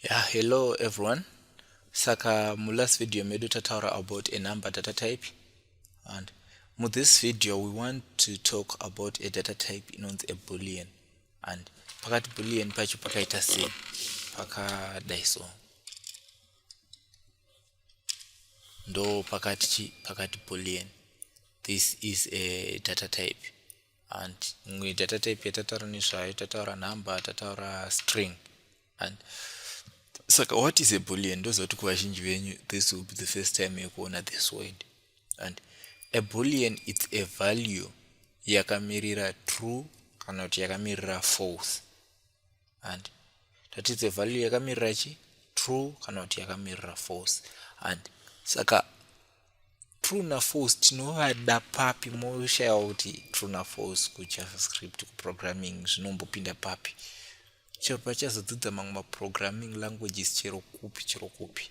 Yeah, hello everyone. Saka mu last video medu tataura about a number data type and mu this video we want to talk about a data type inonzi a boolean and pakati boolean pacho pakaita sei pakadai so ndo pakati chi pakati boolean this is a data type and imwe data type yatataura nezvayo tataura number tataura string and saka what is a boolean ndozoti kuvazhinji venyu this will be the first time yekuona this word and a boolean its a value yakamirira true kana kuti yakamirira false and tatidze value yakamirira chi true kana kuti yakamirira false and saka true na false tinovada papi moshaya kuti true na false kujavascript kuprogramming zvinombopinda papi chero pachazodzidza mamwe maprogramming languages chero kupi chero kupi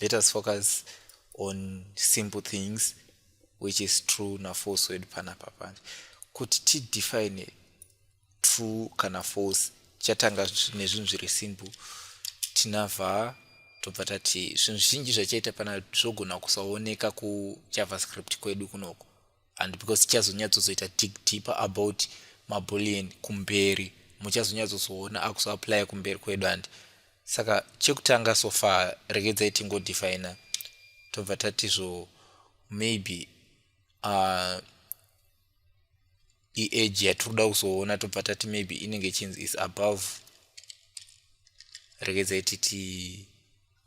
let us focus on simple things which is true nafalse wedu panapa panje kuti tidefine true kana false chatanga nezvinhu zviri simple tinavha tobva tati zvinhu zvinji zvachaita pana zvogona kusaoneka kujavascript kwedu kunoko and because tichazonyatsozoita dig deeper about mabullion kumberi muchazonyatsozoona akuzoaplya kumberi kwedu and saka chekutanga so far regedzai tingodefina tobva tatizvo maybe uh, iage yatiri kuda kuzoona tobva tati maybe inenge ichinzi is above regedzai titi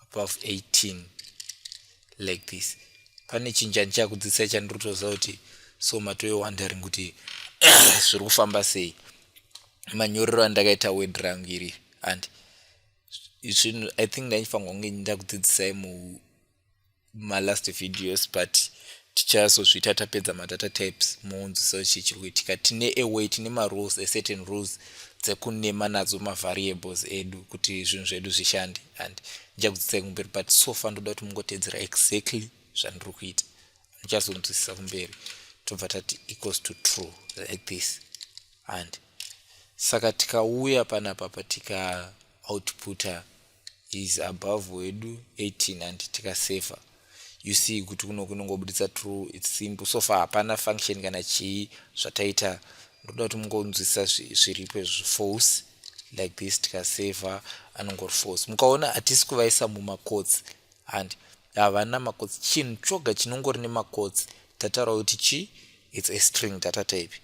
above 18 like this pane chinhu chandichava kudzidzisai chandiri kutoziva kuti so matove wondering kuti zviri kufamba sei manyorero andakaita word rangu iri and zvinhu i think ndaifanirwa kunge ndakudzidzisai mu malast videos but tichazozviita tapedza madata types moonziso chii chiri kuitika tine away tine marules ecertain rules dzekunema nadzo mavariables edu kuti zvinhu zvedu zvishande and ndichakudzidzisai kumberi but so far ndoda kuti mungotedzera exactly zvandiri kuita muchazonzwisisa kumberi tobva tati equals to true like this and saka tikauya panapa patika outputa is above wedu 18 and tikasaver you see kuti kuno kunongobuditsa true its simple so far hapana function kana chii zvataita ndoda kuti mungonzwisisa zviripo izvi force like this tikasaver anongori force mukaona hatisi kuvaisa mumakotsi and havana makotsi chinhu choga chinongori nemakotsi tataura kuti chii its a string data type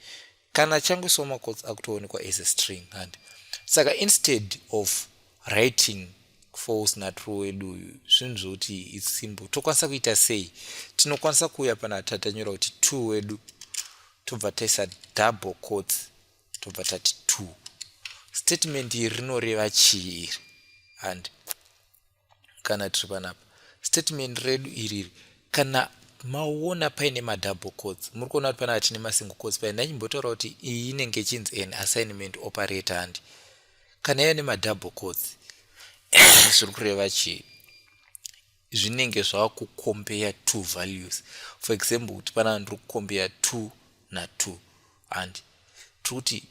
kana changwe so macots akutoonekwa as a string and saka instead of writing false natrue wedu uyu zvinhu zvokuti its simple tokwanisa kuita sei tinokwanisa kuuya pana tatanyora kuti two wedu tobva taisa double cots tobva tati two statement iri rinoreva chii iri and kana tiri panapa statement redu iriri kana maona paine madouble codes muri kuona kuti panapa tine masingle codes paine ndachimbotaura kuti iyi inenge ichinzi an assignment operator handi kana yave nemadouble codes zviri kureva chii zvinenge zvava kucompare two values for example kuti panapa ndiri kucompare two natwo and tikuti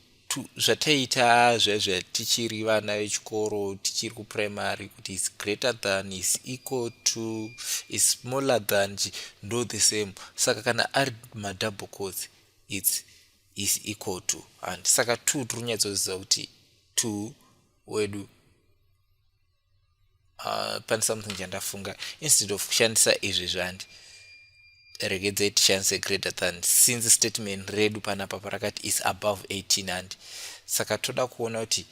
zvataiita zvaizva tichiri vana vechikoro tichiri kuprimary kuti is greater than is equal to is smaller than ndo the same saka kana ari madouble course its is equal to and saka two tiri kunyatsoziva kuti two wedu uh, pane something chandafunga instead of kushandisa izvi zvandi regedzai tishandise greater than since statement redu panapa parakati is above 18 handi saka toda kuona kuti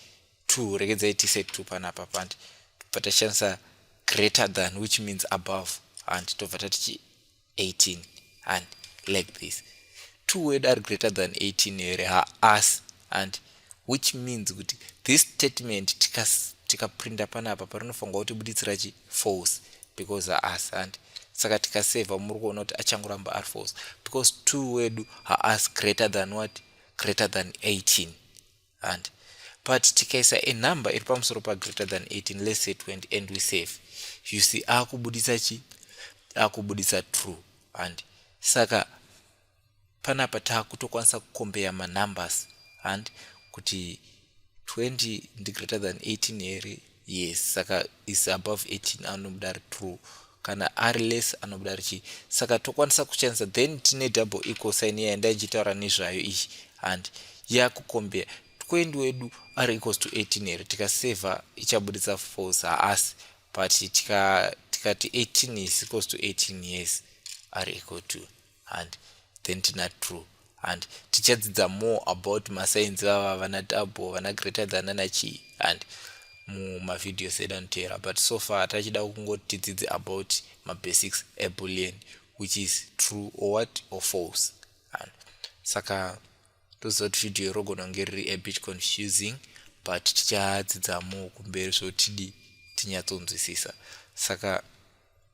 two regedzai tise two panapa pandi tobva tashandisa greater than which means above handi tobva tatichi 18 and like this two word are greater than 18 here haas and which means kuti this statement tikaprinda tika panapa parinofanirwa kuti buditsira chi false because haas and saka tikaseva muri kuona kuti achangoramba ari false because two wedu haas greater than what greater than 18 and but tikaisa a number iri pamusoro pa greater than 18 let's say 20 and we save you see akubuditsa chi akubuditsa true and saka panapa takutokwanisa kukombeya manumbers and kuti 20 ndi greater than 18 here yes saka is above 18 anobuda ari true kana ari less anobuda ari chii saka tokwanisa kuchanisa then tine double equal sign iya yandai ndichitaura nezvayo iyi handi yakukombea tqend wedu ari equals to 18 here tikaseva ichabuditsa false haasi but tikati tika 18 is equals to 18 yes ari equal to and then tina true and tichadzidza more about masainzi vava vana tabo vana greater than ana chii and mumavideos edu anoteera but so far tachida kungoti tidzidze about mabasics ebullion which is true or what or false and saka toziva kuti video irogona kunge riri abit confusing but tichadzidza more kumberi zvotidi tinyatsonzwisisa saka